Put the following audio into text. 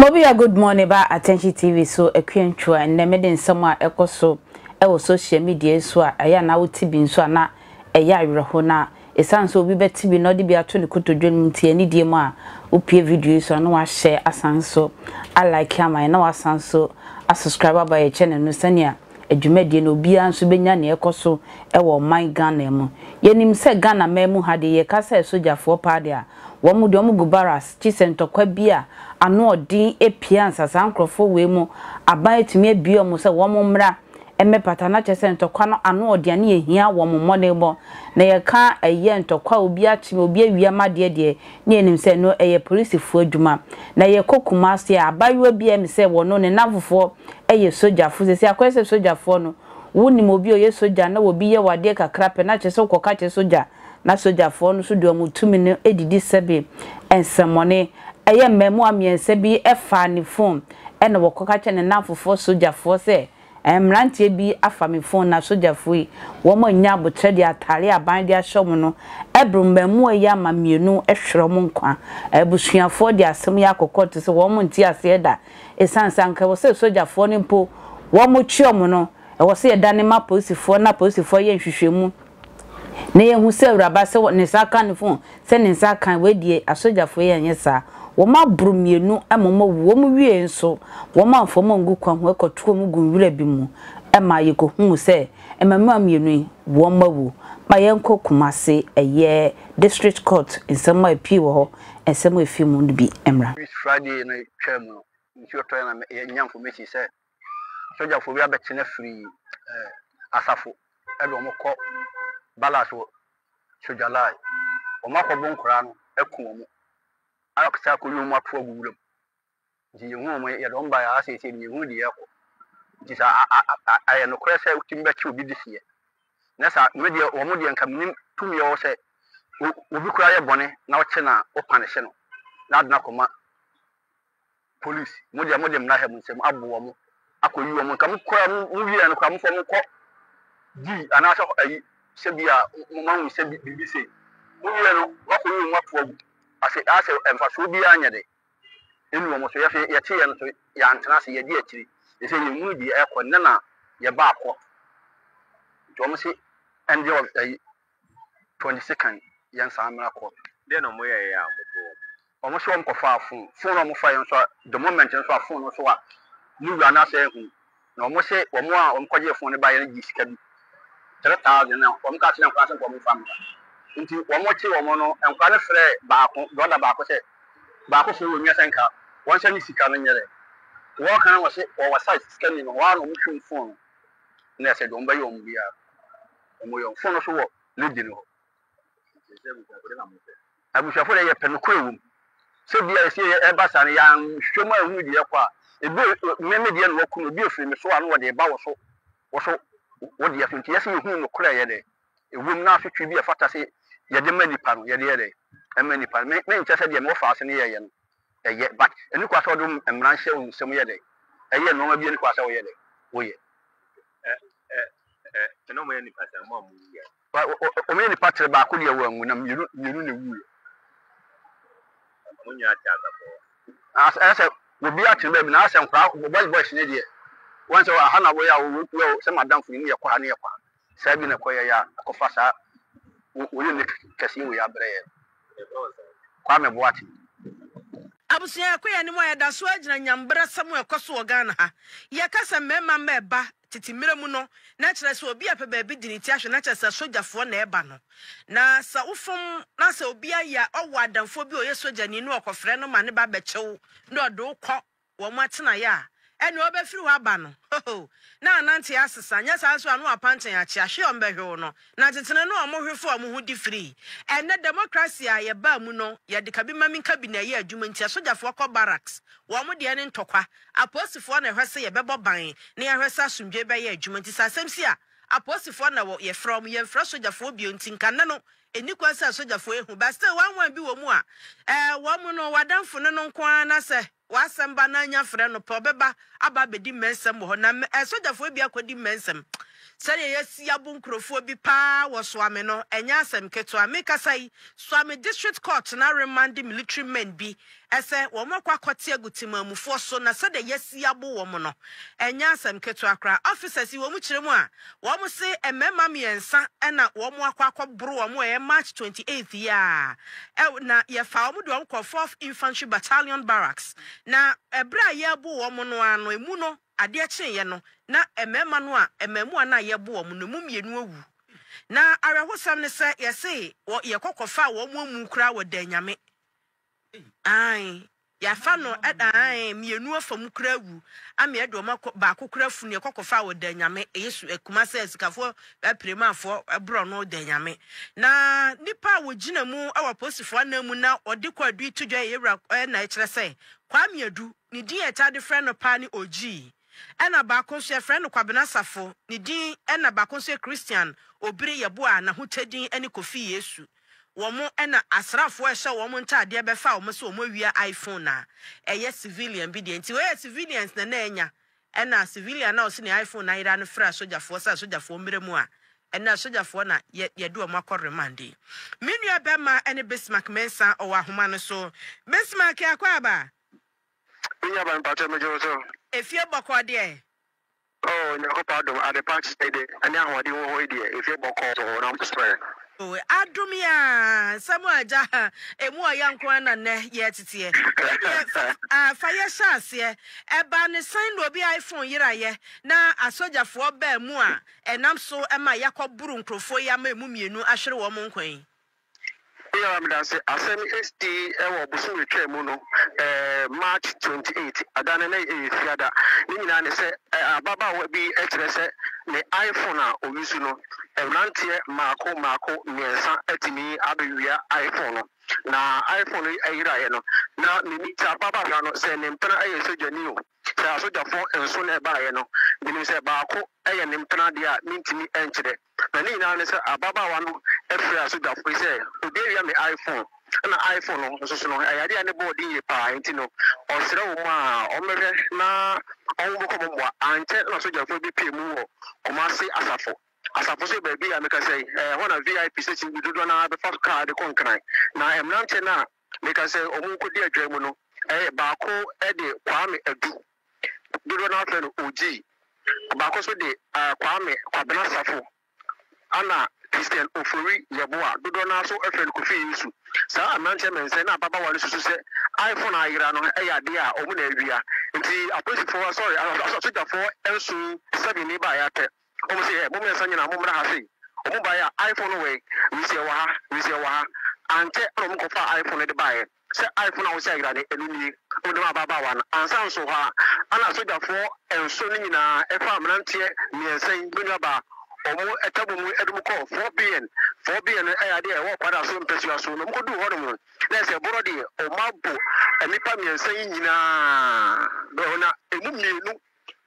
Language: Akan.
Mobia good morning ba Attention TV so akuantwa ɛnɛ mede nsɛm a ɛkɔ so ɛwɔ social media so a ɛyɛ na wote bi nso a na ɛyɛ awerɛho na Esiane sɛ obi bɛte bi na ɔde bi ato ne kotodwe no nti, anidie mu a wopue video yi so a na wahyɛ asan nso a like ama yɛn na wasan nso a subscribe aba yɛn channel no sɛnea adwumadie no obiara nso bɛnya nea ɛkɔ so wɔ ɔman Ghana mu. Yɛnim sɛ Ghana man mu ha deɛ yɛka sɛ sogyafoɔ paa deɛ a, wɔn deɛ wɔgu barracks gye sɛ ntɔkwa bi a ano ɔden pue ansa saa nkorɔfoɔ wei mu aban atumi abue wɔn sɛ wɔn mmra mmɛpata na kyerɛ sɛ ntɔkwa no ano ɔdea ne yɛhia wɔn mmɔdenbɔ na yɛka ɛyɛ ntɔkwa a obi akyeme obi awia ma deɛ deɛ ne yɛnim sɛ no ɛyɛ polisifoɔ adwuma na yɛkɔ Kumasi a abaayewa bi a ɛme sɛ wɔno ne nnamfofoɔ ɛyɛ sogyafoɔ sɛsɛ akɔyɛ sɛ sogyafoɔ no wonim obi ɔyɛ sogya na obi yɛ wo adeɛ kakra pɛ na kyerɛ sɛ wokɔka kyerɛ sogya Na sogyafoɔ no nso de wɔn tumi no didi sɛbe nsɛmmɔne. Ɛyɛ mmaamua mmiɛnsa bi faa ne fon na wɔkɔka kyerɛɛ ne nnamfofoɔ sogyafoɔ sɛ, Mmeranteɛ bi afa me fon na sogyafoɔ yi, wɔanya aboterɛ de atare aban de ahyɛ wɔn no, abiri mmaamua yi ama mmienu hwere wɔn nkwa. Abusuafoɔ de asɛm yi akɔkɔ te sɛ wɔnte aseɛ da ɛsiane sɛ anka ɛwɔ sɛ sogyafoɔ no mpo wɔkye wɔn no, ɛwɔ sɛ yɛdane ma apolisifoɔ na apolisifoɔ yɛ nhwehwɛmu. Na yɛhu sɛ awuraba sɛ ne nsa aka ne phone sɛ ne nsa aka wei deɛ asogyafoɔ yi anyɛ saa wɔn aboro mmienu ma wɔn awu wɔn wiee nso wɔn amfa wɔn angu kwan ho ɛkɔto wɔn gu nwura bi mu ɛma yɛkɔhuu sɛ mmamua mmienu yi wɔn awu ma yɛnkɔ Kumasi ɛyɛ district court nsɛm a ɛpii wɔ hɔ nsɛm a ɛfii mu no bi mmra. Friday no twaa mu no nsuo tɔeɛ na yɛnya information sɛ Asogyafo bi abɛkye no afiri asafo de wɔn kɔ Ballas wɔ Sojalai. Wɔn akɔbo nkoraa no aku wɔn akɔsɛ akɔyi wɔn ato agu wura mu. Nti yɛhu wɔn, yɛde wɔn baeɛ ara seesei no yɛhu deɛ ɛrekɔ. Nti sɛ ayɛ nokorɛ sɛ wotumi bɛkye obi de seɛ na sɛ me deɛ wɔn deɛ nka menim tumi ɛwɔ sɛ obi koraa yɛ bɔne na wokye no a wopanehye no na ade no akɔma police mo deɛ mo de mmra ha mo nsam abo wɔn akɔ yi wɔn nka mo kora mo mo wie no kora mo fɔ mo kɔ di anaasɛ ayi sɛ bi a mo ma hu sɛ bi biribi sɛ mo wie no mo akɔ yi wɔn ato agu ase asɛ mfasoɔ biara nyɛ de ɛnu wɔn so yɛso yɛte yɛ no so yɛantena ase yɛde akyiri ɛsɛ yɛn mu deɛ ɛkɔ ne na yɛ ba akɔ nti wɔn se ɛndeɛ ɔbɛ ayi 22nd yɛn saa mmra kɔ. Deɛ na wɔn yɛ yɛ a wɔbɔ wɔn. Wɔn nso wɔn kɔfaa fon, fon a wɔn faeɛ nso a the moment nso a fon no nso a ne wura no asan ahu na wɔn se wɔn a wɔn kɔgyee fon no baeɛ no gyee sika bi three thousand na wɔn kaa kyerɛɛ nkwadaa sɛ nka wɔn nfa mmra nti wɔn kyee wɔn no nkwadaa no frɛɛ baako brɔda baako sɛ baako frɛ wɔn nua sɛ nka wɔn nsa ne sika no nyɛ dɛ wɔka na wɔse wɔwɔ site sika ni no wɔn a na wɔn hwɛ wɔn fon no na ɛsɛ de wɔn bɛyɛ wɔn biara wɔn yɛ wɔn fon no so wɔ lady no hɔ. Abusuafo deɛ, yɛpɛ nokorɛ wɔ mu. Sɛ bi a yɛsi yɛ ɛba saa no, yɛanhwɛ mu anhunu deɛ ɛrekɔ a, ebi a me me deɛ na wɔaku no, ebi a efiri me so a na wɔde reba wo so, wo so, wo deɛ so. Nti yɛ sɛ yɛhunu nokorɛ a ɛyɛ dɛ, ɛwɔ mu na asotwe bi a ɛfata sɛ yɛde ma nipa no, yɛde yɛ dɛ ɛma nipa no. Me, menkyɛ sɛ deɛ me wɔfa ase no yɛyɛ no, ɛyɛ, but ɛni kwa sɛ wɔde wo mmara nhyɛ wo nsam yɛ dɛ, ɛyɛ nnoɔma bi a ɛni kwa sɛ woyɛ dɛ, woyɛ. Ɛ, ɛ, ɛ, ɛna wɔyɛ nipa saa, mo a mowu biara. Wɔ, wɔ, wɔ, wɔyɛ nnipa tere baako deɛ wɔanwu, na mmienu, mmienu na ɛwuiɛ. Wɔn nyinaa te asafo hɔ. As, ɛyɛ sɛ obiara te baabi, na ayɛ sɛ nkwadaa, boys, boys no deɛ, wɔn sɛ aha na wɔyɛ a, wɔ, wɔ, wɔ, sɛ madamfo no mu yɛkɔ ha na yɛkɔ ha. Saa bi na ɛkɔyɛeɛ a, ɛkɔfa saa wɔ, wɔyɛ no kɛseɛ wei abrɛ yɛn. Kwame Boateng. Abusua akoya no mu a yɛda so ara gyina nyambrasɛm a ɛkɔ so wɔ Ghana ha. Yɛka sɛ mmarima mma ɛba tete mmerɛ mu no, na kyerɛ sɛ obi a pɛ baabi di ne ti ahwɛ, na kyerɛ sɛ sogyafoɔ na ɛba no. Na sɛ wofom na sɛ obi ayɛ a, ɔwɔ adamfoɔ bi a ɔyɛ sogyani na ɔkɔfrɛ no ma ne ba bɛkye wo na ɔde wo kɔ wɔn atenaeɛ a, ɛnneɛ ɔbɛfiri hɔ aba no, hoho, na anante asesa, nyɛ saa nso a na wapanten akyea, hwe wɔn bɛhwe wo no, na tetene no wɔn hwe faa wɔn ho di firii. Ɛnnɛ, democracy a yɛbaa mu no, yɛde kabimamenkabi na ɛyɛ adwuma nti asogyafoɔ kɔ barracks, wɔn deɛ ne ntɔkwa, apolisifoɔ na ɛhwɛ sɛ yɛbɛbɔ ban na yɛahwɛ sɛ asomdwoeɛ bɛyɛ adwuma nti sɛ asɛm si a, apolisifoɔ na wɔ, yɛfrɛ wɔn, yɛmfrɛ sogyafoɔ bio nti nka nnɛ no Ɛnni kwan sɛ asogyafoɔ yi hu, but still one one bi wɔ mu a ɛɛ wɔn no w'adamfo no no nko ara na sɛ w'asɛm ba na anya frɛ no pɛ ɔbɛba aba abɛdi mmɛnsɛm wɔ hɔ na mmɛ asogyafoɔ bi akɔdi mmɛnsɛm sɛdeɛ yɛasi abo nkurɔfoɔ bi paa wɔ Soame no ɛnyɛ asɛm ketewa mekasa yi Soame district court no aremande military men bi Ɛsɛ wɔkɔ akɔte agu temammufoɔ so na sɛdeɛ yɛasi abo wɔn no, ɛnyɛ asɛm ketewa koraa. Officers yi wɔn kyerɛ mu a, wɔn se mmarima mmiɛnsa na wɔn akɔ akɔboro wɔn wɔ ɛyɛ March twenty eighth yi ara a, na yɛfaa wɔn de wɔn kɔɔ Fourth Infantry Battalion Barracks. Na ɛberɛ a yɛrebo wɔn no ara no, ɛmu no, adeɛ kyeeɛ no, na mmarima no a, mmaamua no a yɛrebo wɔn no, ɛmu mmienu awu. Na awerɛhosɛm ne sɛ, yɛse yɛkɔ kɔfaa wɔn amu koraa wɔ Danyame. Ae, yɛafa no da ae, mmienu afa mu koraa awu, ame ɛde wɔn akɔ, baako koraa afunu, ɛkɔ kɔfa wɔ Danyame, ɛyɛ su, ɛkuma sɛ sikafoɔ apiremaafoɔ borɔ no Danyame. Na nipa a wɔgyina mu wɔ apolisifoɔ anan mu na ɔde kɔ adu to dwa yɛ yɛwura ɛna ɛkyerɛ sɛ Kwame Adu, ne din a ɛtaa de frɛ no paa ne Ogyii, ɛna baako nso yɛfrɛ no Kwabena Safo, ne din ɛna baako nso yɛ Christian Obiri Yeboah, n'ahotadin ɛne Kofi Yesu. wɔn na asrafoɔ a ɛhyɛ wɔn ntaadeɛ bɛfa wɔn sɛ wɔn awia iPhone a ɛyɛ civilian bi deɛ nti wei yɛ civilians na na anya ɛna civilian na ɔsɛ ne iPhone ayera no frɛ asogyafoɔ sɛ asogyafoɔ mmerɛ mu a ɛna asogyafoɔ na yɛ yɛde wɔn akɔ remand yi me nua bɛma ɛne Bismarck Mensah ɔwɔ ahoma no so Bismarck akɔ aba. Menya ba mpakyɛ megye wo so. Efie bɔkɔɔ deɛ. O Nyankopɔn adom adepa kyɛde ne ahoɔden wɔ hɔ yi deɛ efie bɔkɔɔ so wɔ nam soɛ. O adom yaa nsɛm a agya ha emu ɔya nko ara na nnɛ yɛ teteɛ ɛdeɛ fa ah fa yɛ hyɛ aseɛ ɛbaa ne sɛn na obi iPhone yeraeɛ na asogyafoɔ baa mu a ɛnam so ɛma yakɔ boro nkorɔfoɔ yi ama emu mmienu ahwere wɔn nkwa yi. Meyɛ ara meda ase. Asɛm yi sii wɔ ɔbosome a ɛtwaa mu no, March twenty eight. Ɛda no na ɛyɛ Fiada. Ne nyinaa ne sɛ, ababaawa bi kyerɛ sɛ ne iPhone a ɔyi so no, mmeranteɛ mmaako mmaako mmiɛnsa atumi abɛwia iPhone no. Na iPhone no yeraeɛ no, na menim saa ababaawa no, sɛ ne mpena yɛ sogyani o, sɛ asogyafoɔ nson na ɛbaeɛ no, menim sɛ baako yɛ ne mpena deɛ a mentumi nkyerɛ. Na ne nyinaa ne sɛ ababaawa no frɛɛ sogyafo yi sɛ, Obi awia me iPhone. Ɛnna iPhone no nso so no, ɛyɛ ade a ne bo den yie paa, enti no, ɔsrɛɛ wɔn a wɔmmɛhwɛ na wɔmmɔkɔ mo mmoa. Ankyɛ na sogyafo bi pue mu wɔ Kumasi Asafo. Asafo nso yɛ baabi a mekasa yi, ɛhɔ na VIP station bi dodoɔ no ara bɛfa kaa de kɔ Nkran. Na mmeranteɛ no a mekasa yi, wɔkɔdi adwaa mu no, baako de Kwame Adu. dodoɔ no ara frɛ no Ogyee. Ɔbaako nso de Kwame Kwabena Safo, ɛna Christian Ofori Yeboah, dodoɔ no ara nso frɛ no Kofi Yesu. Saa mmeranteɛ mmiɛnsa yi na ababaawa no susu sɛ iPhone a ayera no yɛ adeɛ a wɔn na awia. Nti apolisifoɔ, sorry, asogyafoɔ nson, seven, ni baeɛ atɛ wɔn sɛ, ɛ, mo mmiɛnsa nyinaa mommra ha sei. Wɔn baeɛ a iPhone no wɔ he? Wisie wɔ ha, Wisie wɔ ha. Ankyɛ na wɔkɔfaa iPhone no de baeɛ. Sɛ aefo na wɔhyɛ ayera no, ɛno nie, wɔdɔm ababaawa no. Ansa nso hɔ ara, ana sogyafoɔ nson no nyinaa ɛfaa mmeranteɛ mmiɛnsa yi, me nuabaa, wɔn ɛtwa bɔ mu de wɔn kɔɔ Fort Bean. Fort Bean no ɛyɛ adeɛ a ɛwɔ kwadaa so mpasua so, na wɔn kɔduu hɔnom no, na ɛyɛ sɛ borɔ deɛ wɔabu nnipa mmiɛnsa yi nyinaa, na emu mmienu